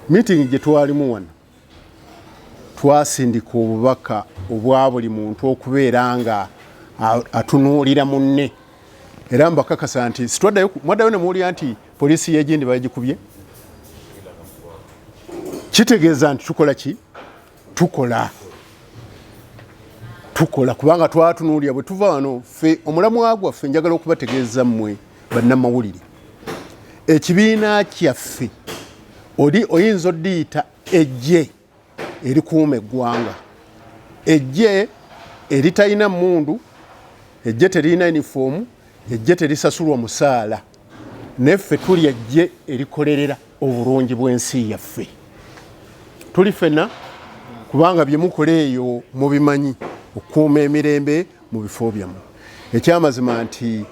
miitingi gye twalimu wano twasindika obubaka obwa buli muntu okubeera nga atunuulira munne era mbakakasa nti sitwaddayo mwaddayo ne muwulira nti poliisi yegindi bagikubye kitegeeza nti tukola ki tukola tukola kubanga twatunuulira bwe tuva wano ffe omulamwa gwaffe njagala okubategeeza mmwe bannamawulire ekibiina kyaffe oli oyinza oddiyita ejje erikuuma eggwanga ejje eritalina mundu ejje teririna yunifoomu ejje terisasulwa musaala naye ffe tuli ejje erikolerera obulungi bw'ensi yaffe tuli fena kubanga byemukola eyo mubimanyi okukuuma emirembe mu bifo byamu ekyamazima nti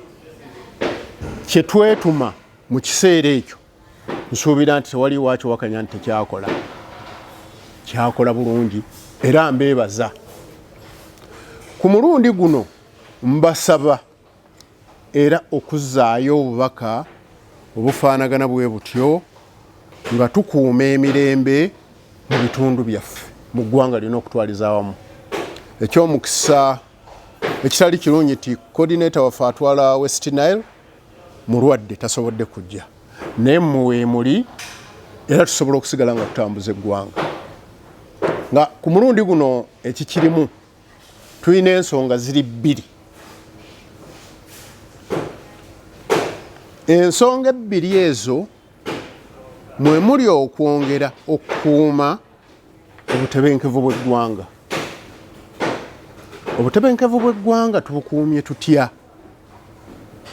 kyetwetuma mu kiseera ekyo nsuubira nti tewaliwo akiwakanya nti tekyakola kyakola bulungi era mbeebaza ku mulundi guno mbasaba era okuzzaayo obubaka obufaanagana bwe butyo nga tukuuma emirembe mu bitundu byaffe mu ggwanga lyona okutwaliza awamu. Eky'omukisa ekitali kirungi nti coordinator waffe atwala West Nile mulwadde tasobodde kujja naye mmwe weemuli era tusobola okusigala nga tutambuza eggwanga nga ku mulundi guno ekikirimu tulina ensonga ziri bbiri ensonga ebbiri ezo mwe muli okwongera okukuuma obutebenkevu bw'eggwanga obutebenkevu bw'eggwanga tubukuumye tutya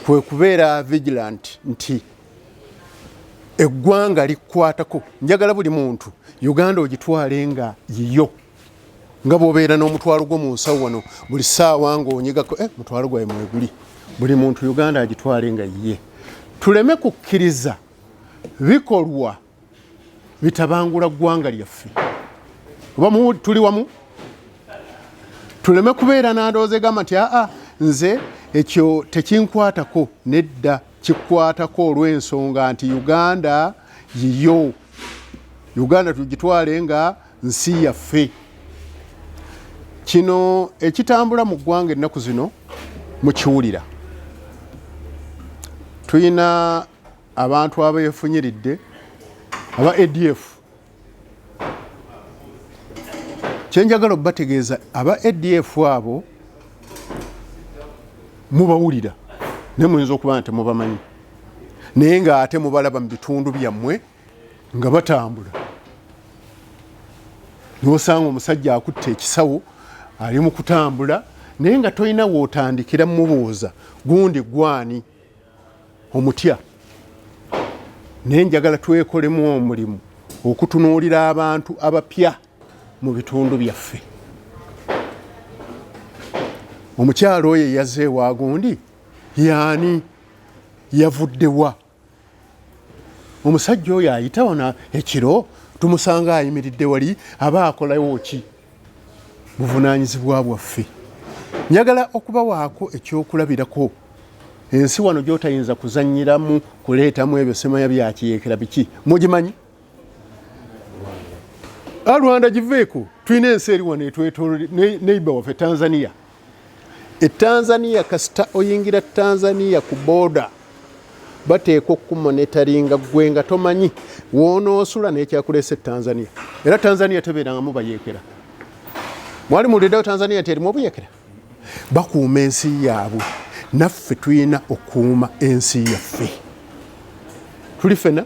kwe kubeera vigilant nti eggwanga likwatako njagala buli muntu uganda ogitwale nga yiyo nga bwobeera n'omutwalo gwo mu nsawo wano buli saawa ngaonyigako eh, mutwalo gwawe mweguli buli muntu uganda agitwale nga ye tuleme kukkiriza bikolwa bitabangula ggwanga lyaffe oba tuli wamu tuleme kubeera nandooza egamba nti aa nze ekyo tekinkwatako nedda kikwatako olw'ensonga nti uganda yiyo uganda tugitwale nga nsi yaffe kino ekitambula mu ggwanga ennaku zino mukiwulira tulina abantu abeefunyiridde aba adf kyenjagala obategeeza aba adf abo mubawulira naye muyinza okuba nga temubamanyi naye ng'ate mubalaba mu bitundu byammwe nga batambula nosanga omusajja akutte ekisawo ali mu kutambula naye nga tolina wotandikira mubuuza gundi gwani omutya naye njagala twekolemu omulimu okutunuulira abantu abapya mu bitundu byaffe omukyalo oyo eyaze ewagundi yaani yavuddewa omusajja oyo ayita wano ekiro tumusanga ayimiridde wali aba akolawo ki buvunaanyizibwa bwaffe njagala okubawaako ekyokulabirako ensi wano gyotayinza kuzanyiramu kuleetamu ebyo semanya byakiyeekera biki mugimanyi alwanda ah, giveeko tulina ensi eri wano etwetolode neiba waffe tanzania E Tanzania kasita oyingira Tanzania ku booda bateekwa okukumonetaringa ggwe nga tomanyi woonoosula n'ekyakuleese e Tanzania era Tanzania tebeerangamu bayeekera mwali muwuliddewo Tanzania nti erimu obuyeekera bakuuma ensi yaabwe naffe tulina okuuma ensi yaffe tuli fena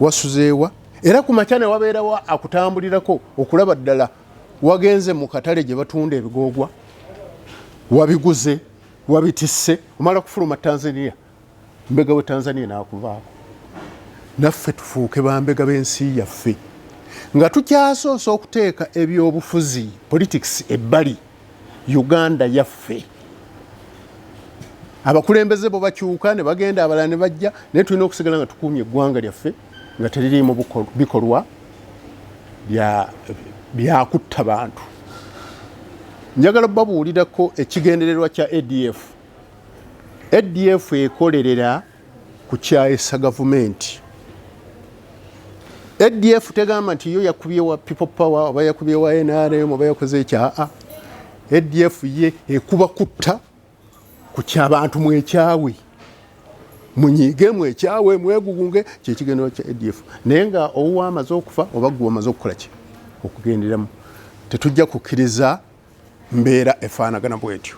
wasuzeewa era ku makya ne wabeerawo akutambulirako okulaba ddala wagenze mu katale gye batunda ebigoogwa wabiguze wabitisse omala kufuluma tanzania mbega we tanzania n'akuvaako naffe tufuuke bambega b'ensi yaffe nga tukyasoosa okuteeka ebyobufuzi politics ebbali uganda yaffe abakulembeze bo bakyuka ne bagenda abalala ne bajja naye tulina okusigala nga tukuumye eggwanga lyaffe nga teririimu bikolwa byakutta bantu njagala babuulirako ekigendererwa kya adf adf ekolerera kukyayisa gavumenti adf tegamba nti yo yakubye wa people power oba yakubye wa nrm oba yakoze ekyaa adf ye ekuba kutta ku kyabantu mwekyawe munyiige mwekyawe mwegugunge kyekigendero kya adf naye nga owowa amaze okufa oba gwe omaze okukola ki okugenderamu tetujja kukkiriza mbeera efaanagana bwetyo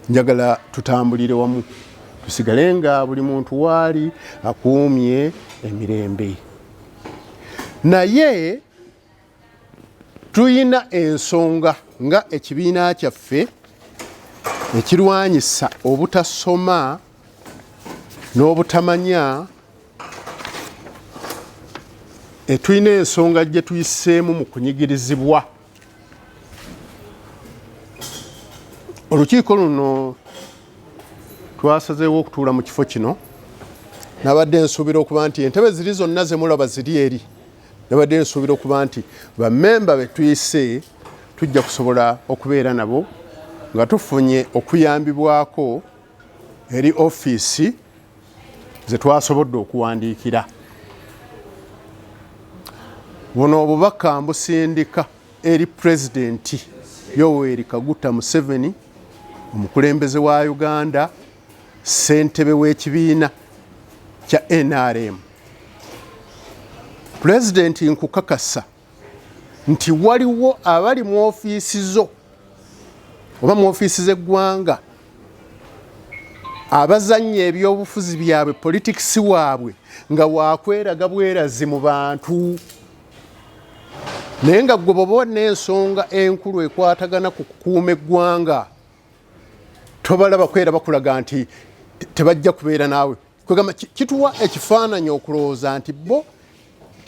njagala tutambulire wamu tusigale nga buli muntu waali akuumye emirembe naye tulina ensonga nga ekibiina kyaffe ekirwanyisa obutasoma n'obutamanya etulina ensonga gye tuyiseemu mu kunyigirizibwa olukiiko luno twasazeewo okutuula mu kifo kino nabadde nsuubira okuba nti entebe ziri zonna zemulaba ziri eri nabadde nsuubira okuba nti bamemba betuyise tujja kusobola okubeera nabo nga tufunye okuyambibwako eri ofiisi ze twasobodde okuwandiikira buno obubaka mbusindika eri pulezidenti yoweri kaguta museveni omukulembeze wa uganda ssentebe w'ekibiina kya nrm pulezidenti nkukakasa nti waliwo abali mu ofiisi zo oba mu ofiisi z'eggwanga abazannya ebyobufuzi byabwe politikisi waabwe nga wakweraga bwerazi mu bantu naye nga gwe baba olina ensonga enkulu ekwatagana ku kukuuma eggwanga tobalaba kwera bakulaga nti tebajja kubeera naawe kwegamba kituwa ekifaananyi okulowooza nti bo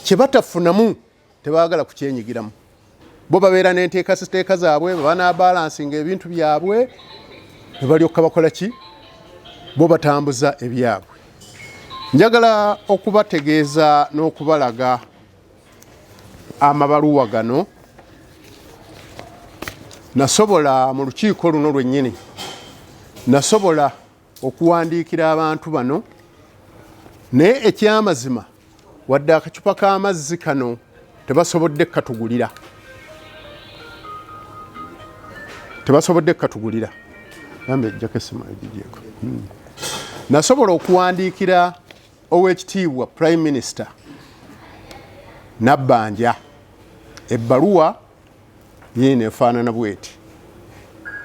kye batafunamu tebaagala kukyenyigiramu bo babeera n'enteekasiteeka zaabwe bebanabalansinga ebintu byabwe ne balyoka bakola ki bo batambuza ebyabwe njagala okubategeeza n'okubalaga amabaluwa gano nasobola mu lukiiko luno lwennyini nasobola okuwandiikira abantu bano naye ekyamazima wadde akacupa k'amazzi kano tebasobodde katugulira tebasobodde katugulira ambe ejjako essimu egigyeko hmm. nasobola okuwandiikira owekitiibwa prime minister nabbanja ebbaluwa Yiino efaanana bweti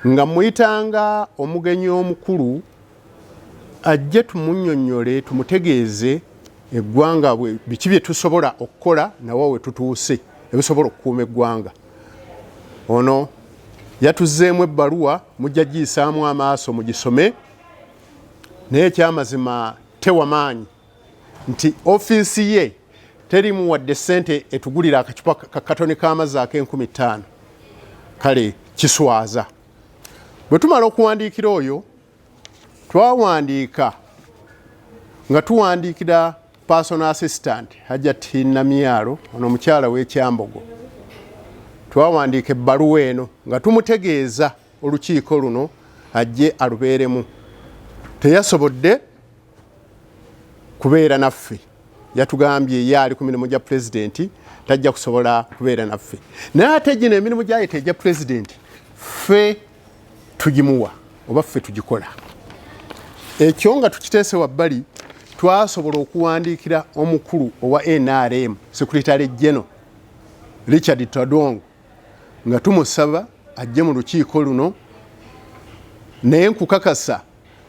nga mmuyitanga omugenyi omukulu ajje tumunnyonnyole tumutegeeze eggwanga biki bye tusobola okukola nawa we tutuuse ebisobola okukuuma eggwanga. Ono yatuzzeemu ebbaluwa mujja giyisaamu amaaso mugisome naye ekyamazima tewa maanyi nti ofiisi ye terimu wadde sente etugulira akacupa kakatoni k'amazzi ak'enkumi ttaano kale kiswaza bwe tumala okuwandiikira oyo twawandiika nga tuwandiikira personal assistant hajat namyalo ono omukyala w'ekyambogo twawandiika ebbaluwa eno nga tumutegeeza olukiiko luno ajje alubeeremu teyasobodde kubeera naffe yatugambye ye ali ku mirimu gya pulezidenti tajja kusobola kubeera naffe naye ate gino emirimu gyayeta egya pulezidenti ffe tugimuwa oba ffe tugikola ekyo nga tukiteese wabbali twasobola okuwandiikira omukulu owa nrm sekuritale geno richard tadong nga tumusaba ajje mu lukiiko luno naye nkukakasa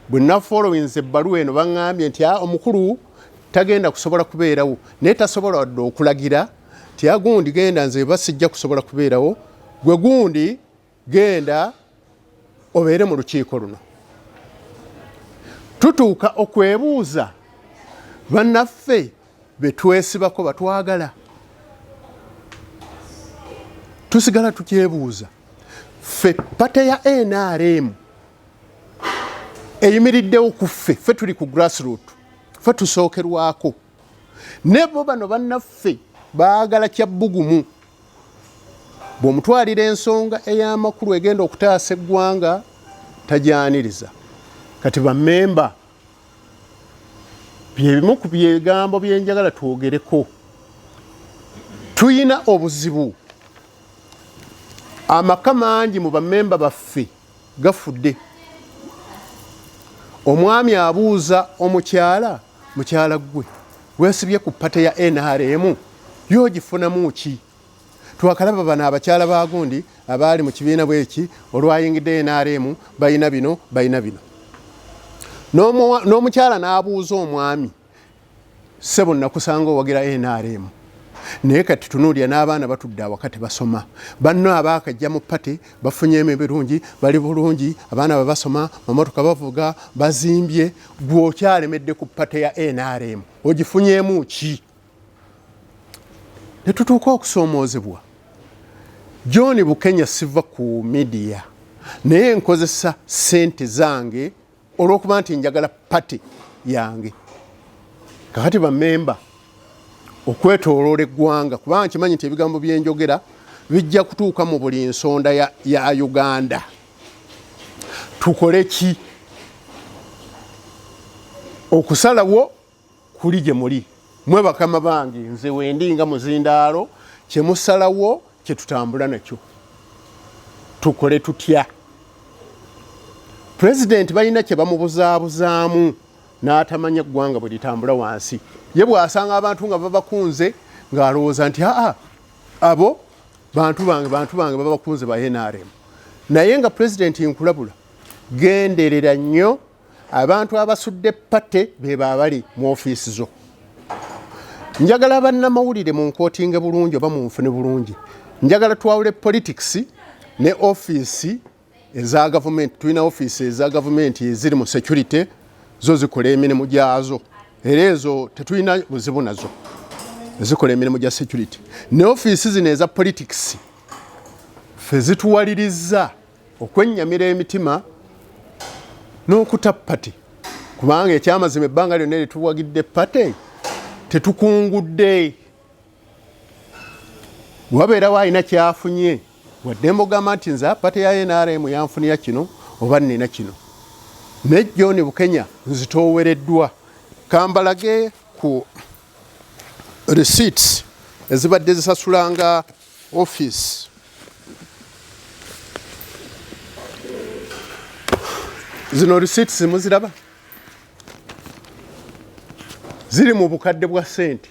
bwe nafolowinza ebbaluwa eno baŋŋambye nti ah, omukulu tagenda kusobola kubeerawo naye tasobola wadde okulagira nti agundi ah, genda nze eba sijja kusobola kubeerawo gwe gundi genda obeere mu lukiiko luno tutuuka okwebuuza bannaffe betwesibako batwagala tusigala tukyebuuza ffe pate ya nrm eyimiriddewo ku ffe ffe tuli ku grassroot ffe tusookerwako ne bo bano bannaffe baagala kya bbugumu bw'omutwalira ensonga ey'amakulu egenda okutaasa eggwanga tajyaniriza kati bamemba byebimu ku byegambo byenjagala twogereko tulina obuzibu amaka mangi mu bamemba baffe gafudde omwami abuuza omukyala mukyala ggwe gwesibye ku pate ya nrm yo ogifunamu ki twakalaba bano abakyala bagundi abaali mu kibiina bweki olwayingidde nrm balina bino balina bino n'omukyala n'abuuza omwami Ssebo nakusanga owagira nrm naye kati tunuulira n'abaana batudde awaka tebasoma banno abaakajja mu pate bafunye emu ebirungi bali bulungi abaana bwe basoma mamotoka bavuga bazimbye gwe okyalemedde ku pate ya nrm ogifunyemu ki ne tutuuka okusoomoozebwa john bukenya siva ku midiya naye nkozesa ssente zange olwokuba nti njagala pati yange kakati bamemba okwetoloola eggwanga kubanga kimanyi nti ebigambo byenjogera bijja kutuuka mu buli nsonda ya, ya uganda tukole ki okusalawo kuli gye muli mwe bakama bange nze wendi nga muzindaalo kye musalawo kye tutambula nakyo tukole tutya pulezidenti balina kye bamubuzaabuzaamu n'atamanya eggwanga bwe litambula wansi ye bw'asanga abantu nga babakunze ng'alowooza nti aa abo bantu bange bantu bange babakunze ba nrm naye nga pulezidenti nkulabula genderera nnyo abantu abasudde pate bebaabali mu ofiisi zo njagala bannamawulire mu nkootinge bulungi oba mu nfune bulungi njagala twawule politics ne ofiisi eza gavumenti tulina ofiisi eza gavumenti eziri mu security zo zikola emirimu gyazo era ezo tetulina buzibu nazo ezikola emirimu gya security ne ofiisi zino eza politics fe zituwaliriza okwennyamira emitima n'okuta pate kubanga ekyamazima ebbanga lyonna lyetuwagidde pate tetukungudde wabeerawo alina kyafunye wadde mbogamba nti nze pate ya nrm yanfunira kino oba nina kino ne john bukenya nzitoowereddwa kambalage ku receipts ezibadde zisasulanga office zino receipts muziraba ziri mu bukadde bwa sente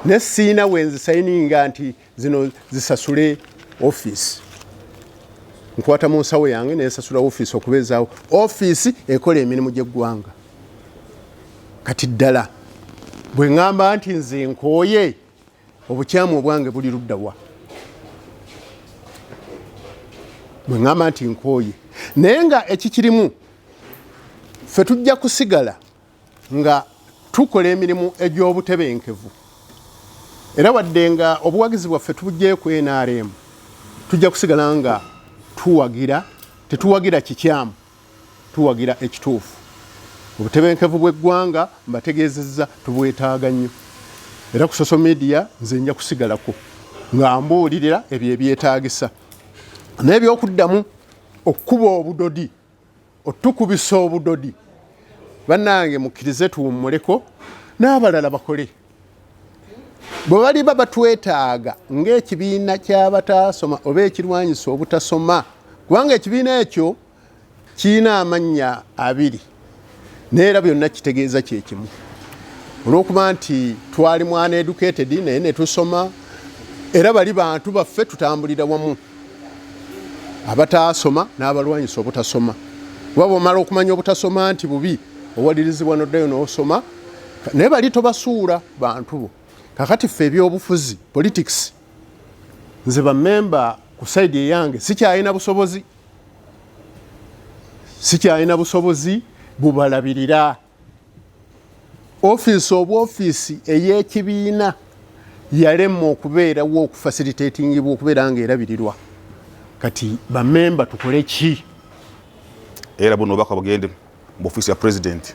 ne siina wenzisayininga nti zino zisasule office nkwata mu nsawo yange nensasula office okubeezaawo office ekola emirimu gy'eggwanga kati ddala bwe ŋŋamba nti nze nkooye obukyamu obwange buli ludda wa bwe ŋŋamba nti nkooye naye nga ekikirimu ffe tujja kusigala nga tukola emirimu egy'obutebenkevu era wadde nga obuwagizi bwaffe tubugyeku nrm tujja kusigala nga tuwagira tetuwagira kikyamu Tuwagira ekituufu. Obutebenkevu bw'eggwanga mbategeezezza tubwetaaga nnyo era ku social media nze nja kusigalako nga mbuulirira ebyo ebyetaagisa n'ebyokuddamu okukuba obudodi otukubisa obudodi bannange mukkirize tuwummuleko n'abalala bakole. bwe baliba batwetaaga ng'ekibiina ky'abataasoma oba ekirwanyisa obutasoma kubanga ekibiina ekyo kirina amannya abiri naye era byonna kitegeeza kyekimu olw'okuba nti twali mwana educated naye ne tusoma era bali bantu baffe tutambulira wamu abataasoma n'abalwanyisa obutasoma kuba bwomala okumanya obutasoma nti bubi owalirizibwa noddayo n'osoma naye bali tobasuula bantu bo kakati ffe ebyobufuzi politics nze bamemba ku saidi eyange sikyalina busobozi sikyalina busobozi bubalabirira ofiisi oba ofiisi ey'ekibiina yalemwa okubeerawo okufasilitatingibwa okubeera nga erabirirwa kati bamemba tukole ki era buno obubaka bugende mu ofiisi ya pulezidenti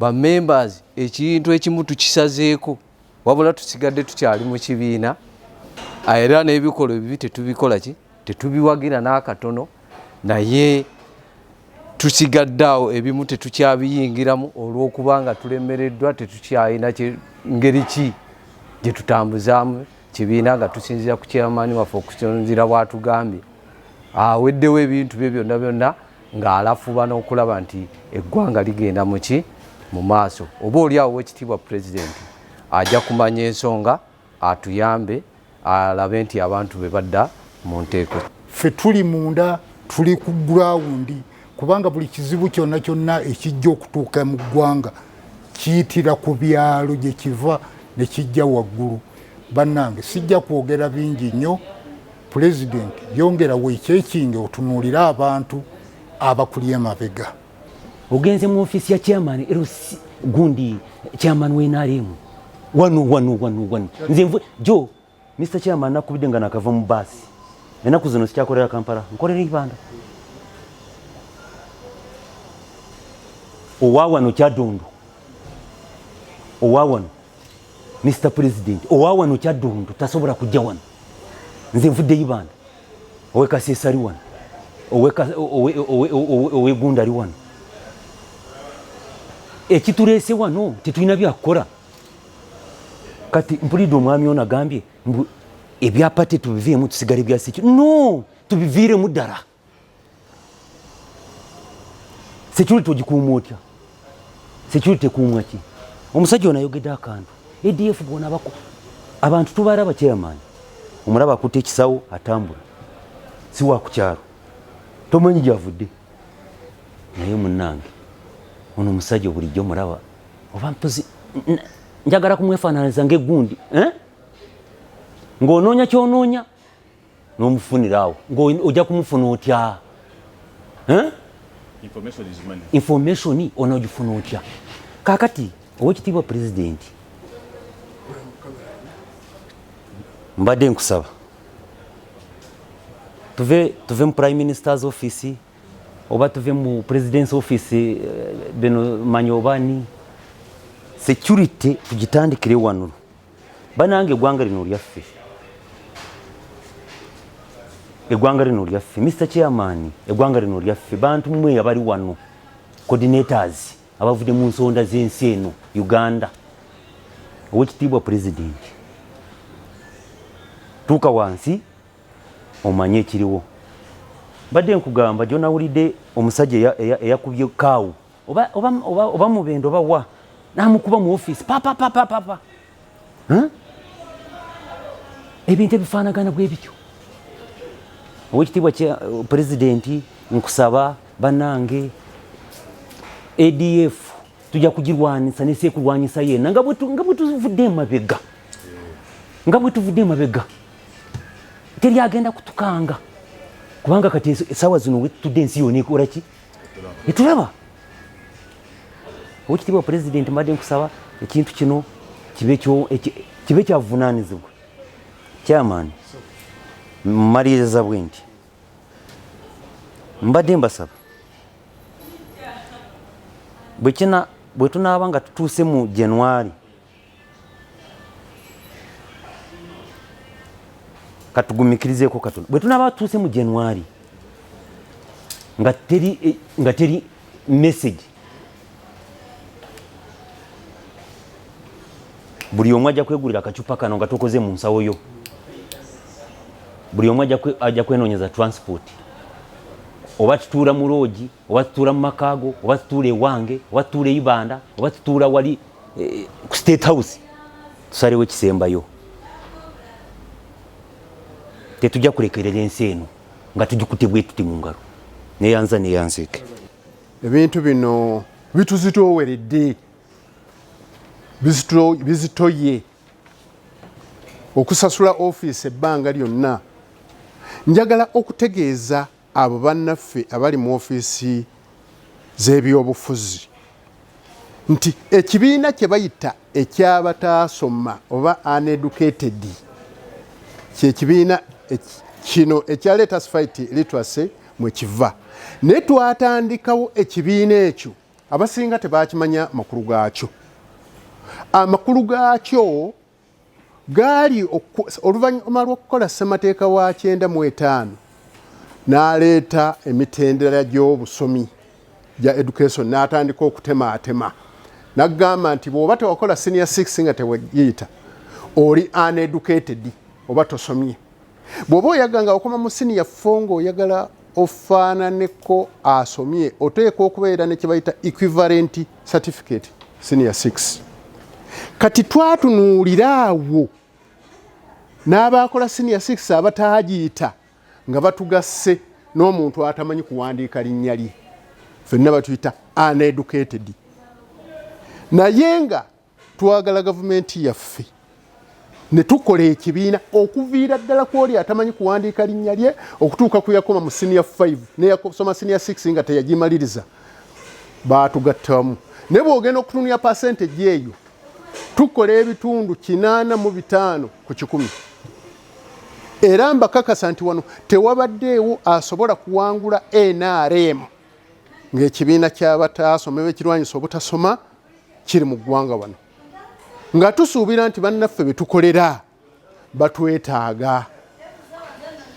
ba members ekintu ekimu tukisazeeko wabula tusigadde tukyali mu kibiina ah, era n'ebikolwa ebibi tetubikola ki tetubiwagira n'akatono naye tusigadde awo ebimu tetukyabiyingiramu olw'okuba nga tulemereddwa tetukyalina ngeri ki gye tutambuzaamu kibiina nga tusinzira ku kyamaani waffe okusinzira bwatugambye aweddewo ebintu bye byonna byonna ng'alafuba n'okulaba nti eggwanga ligenda muki mu maaso oba oli awo wekitiibwa pulezidenti ajja kumanya ensonga atuyambe alabe nti abantu be badda mu nteeko ffe tuli munda tuli ku gurawundi kubanga buli kizibu kyonna kyonna ekijja okutuuka mu ggwanga kiyitira ku byalo gye kiva ne kijja waggulu bannange sijja kwogera bingi nnyo Pulezidenti yongera weekyekinge otunuulire abantu abakulye emabega. Ogenze mu ofiisi ya chairman LC gundi chairman wa NRM wano wano wano wano nze nvu jo Mr chairman nakubidde nga nakava mu baasi enaku zino sikyakolera Kampala nkolera Ibanda owa wano kyadondo owa wano Mr President owa wano kyaddundu tasobola kujja wano nze nvudde ibanda owe kasesa ali wano owe gunda ali wano ekituleese wano tetulina byakukola kati mpulidde omwami ono agambye mbu ebyapa tetubiviemu tusigale byasiki no tubiviiremu ddala security ogikuuma otya security ekuumwa ki omusajja ono ayogedde akantu adf bona bako abantu tubaraba chairman omulaba akutte ekisawo atambula si wa ku kyalo tomanyi gyavudde naye munnange ono omusajja bulijjo mulaba oba mpozi njagala kumwefaananiza ngaegundi eh? ng'onoonya kyonoonya nomufunirawo ngaoja kumufuna otya information onogifuna otya kakati owekitiibwa pulezidenti mbadde nkusaba tuve tuve mu prime minister's office oba tuve mu president's office eh, bino manyi obani security tugitandikire wano banange egwanga lino lyaffe egwanga lino lyaffe Mr Chairman egwanga lino lyaffe bantu mwe abali wano coordinators abavude mu nsonda z'ensi eno Uganda owekitiibwa president tuuka wansi omanye ekiriwo mbadde nkugamba gyonawulidde omusajja eyakubye kaawu oba oba oba oba mubendo oba wa namukuba mu office papa papa papa huh? ebintu ebifaanagana bwe bityo owekitiibwa kya uh, pulezidenti nkusaba banange adf tujja kugirwanyisa nesekulwanyisa yena nga bwetuvudde emabega nga bwetuvudde emabega teri agenda kutukanga kubanga kati esawa zino wetutudde ensi yona ekolaki netulaba owekitiibwa pulezidenti mbadde nkusaba ekintu kino kibe kyavunanizibwa kyamaani mumaliriza bwe nti mbadde mbasaba bwekina bwetunaaba nga tutuuse mu januari katugumikirizeeko katono bwe tunaaba tutuuse mu januari nga teri eh, nga teri message buli omu ajja kwegulira akacupa kano nga tukoze mu nsawo yo buli omu ajja kwenoonyeza transport oba tutuula mu loogi oba tutuula mu maka go oba tutuula ewange oba tutuula eibanda oba tutuula wali eh, ku state house tusalewo ekisembayo tetujja kulekerera ensi eno nga tugikute bwetuti mu ngalo neyanza neyanzeke ebintu bino bituzitooweredde bizitoye okusasula ofiisi ebbanga lyonna njagala okutegeeza Abo bannaffe abali mu ofiisi z'ebyobufuzi nti ekibiina kye bayita eky'abataasoma oba uneducated kye kibiina kino ekya Let Us Fight Literacy mwe kiva. Naye twatandikawo ekibiina ekyo abasinga tebaakimanya makulu gaakyo. Amakulu gaakyo gaali oluvannyuma lw'okukola ssemateeka wa kyenda mu etaano n'aleeta emitendera gy'obusomi gya education n'atandika okutemaatema n'agamba nti bw'oba tewakola senior six nga tewegiyita oli uneducated oba tosomye bw'oba oyaga nga okoma mu siniya fo ng'oyagala ofaananeko asomye oteekwa okubeera ne kye bayita equivalent certificate senior 6 kati twatunuulira awo n'abaakola senior 6 abataagiita nga batugasse n'omuntu atamanyi kuwandiika linnya lye fenna batuyita uneducated naye nga twagala gavumenti yaffe ne tukola ekibiina okuviira ddala ku oli atamanyi kuwandiika linnya lye okutuuka ku yakoma mu siniya 5 neyasoma siniya 6 nga teyagimaliriza baatugattamu naye bwogenda okutunulya pasenteji eyo tukola ebitundu kinaana mu bitaano ku kikumi era mbakakasa nti wano tewabaddeewo asobola kuwangula nrm ng'ekibiina ky'abataasoma ebekirwanyisa obutasoma kiri mu ggwanga wano nga tusuubira nti bannaffe be tukolera batwetaaga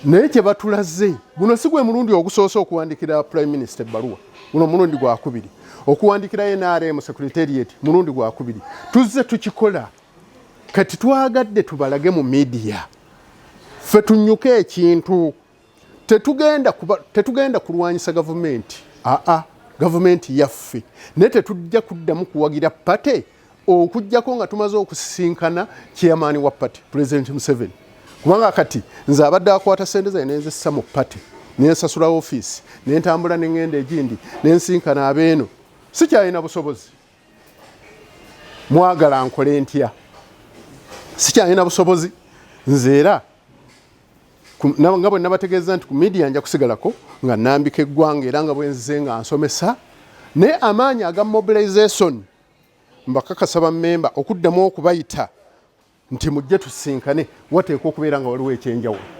naye kye batulaze guno si gwe mulundi ogusoose okuwandikira prime minister ebbaluwa guno omulundi gwakubiri okuwandikira nrm secretariat mulundi gwakubiri tuzze tukikola kati twagadde tubalage mu midiya ffe tunyuke ekintu tetugenda kuba tetugenda kulwanyisa gavumenti aa ah, ah, gavumenti yaffe naye tetujja kuddamu kuwagira pate okujjako nga tumaze okusisinkana chairman wa pate pulezidenti museveni kubanga kati nze abadde akwata sente zaye nenzissa mu pate nensasula ofiisi nentambula nengenda egindi nensinkana abeeno sikyalina busobozi mwagala nkole ntya sikyalina busobozi nze era nga bwe nabategeeza nti ku midiya nja kusigalako nga nambika eggwanga era nga bwenzize nga nsomesa naye amaanyi aga mobilization mbakakasa bamemba okuddamu okubayita nti mujje tusinkane wateekwa okubeera nga waliwo ekyenjawulo